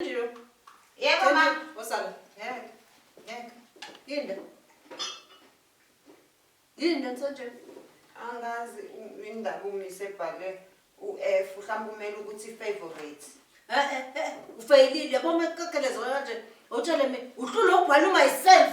Yebo ma. Osala. Ngeke. Ngeke. Linda. Linda msanje. Angazi indaba umise ebhale u-F mhlawumbe kumele ukuthi favorite. Eh eh eh ufeyilile yabo mekukekelezo kanje. Utshele mina uhlule ubhala myself.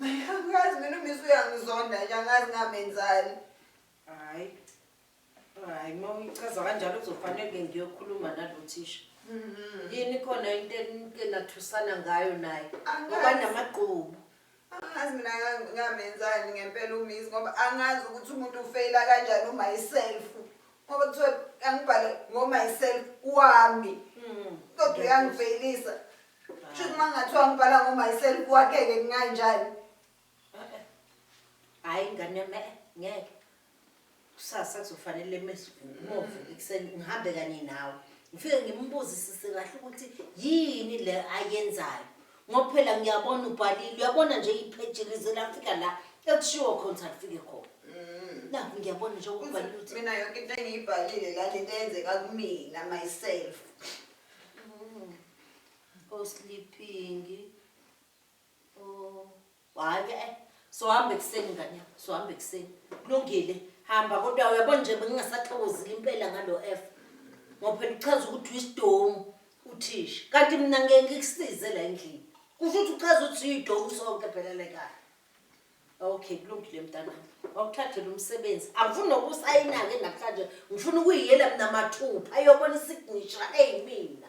Angazi mina umisi uyangizonda nje angazi ngamenzani. Hayi. Hayi uma uyichaza kanjalo kuzofanele ke ngiyokhuluma nalo thisha. Mhm. Yini khona into enike nathusana ngayo naye. Angazi. Ngoba namagqubu. Angazi mina nga- ngamenzani ngempela umisi ngoba angazi ukuthi umuntu ufeyila kanjani umyself. Ngoba kuthiwa angibhale ngomyself wami. Mm. Kodwa uyangifeyilisa. Shuthi uma ngathiwa ngibhala ngoMyself kwakheke kunganjani? Hayi ngane yami eh, ngeke. Kusasa kuzofanele mesivumovu ekuseni ngihambe kanye nawe. Ngifike ngimbuzisise kahle ukuthi yini le ayenzayo. Ngoba phela ngiyabona ubhalile, uyabona nje ipheji lize lafika la ekushiwo khona ukuthi alifike khona. Nakho ngiyabona nje ukubhalile ukuthi Mm. Mina yonke into engiyibhalile la lento eyenzeka kumina myself. o sleeping o hayi ke eh sohamba ekuseni ngane yami sohamba ekuseni kulungile hamba kodwa uyabo nje bengingasaxokozile impela ngalo f ngoba phela uchaza ukuthi uyisidomu uthisha kanti mina ngeke ngikusize la endlini kusho ukuthi uchaza ukuthi uyidomu sonke phela lekaya Okay, kulungile mntanami. Wawuthathela umsebenzi. Angifuni nokusayina-ke namhlanje. Ngifuna ukuyiyela mina mathupha ayobona isignisha eyimina.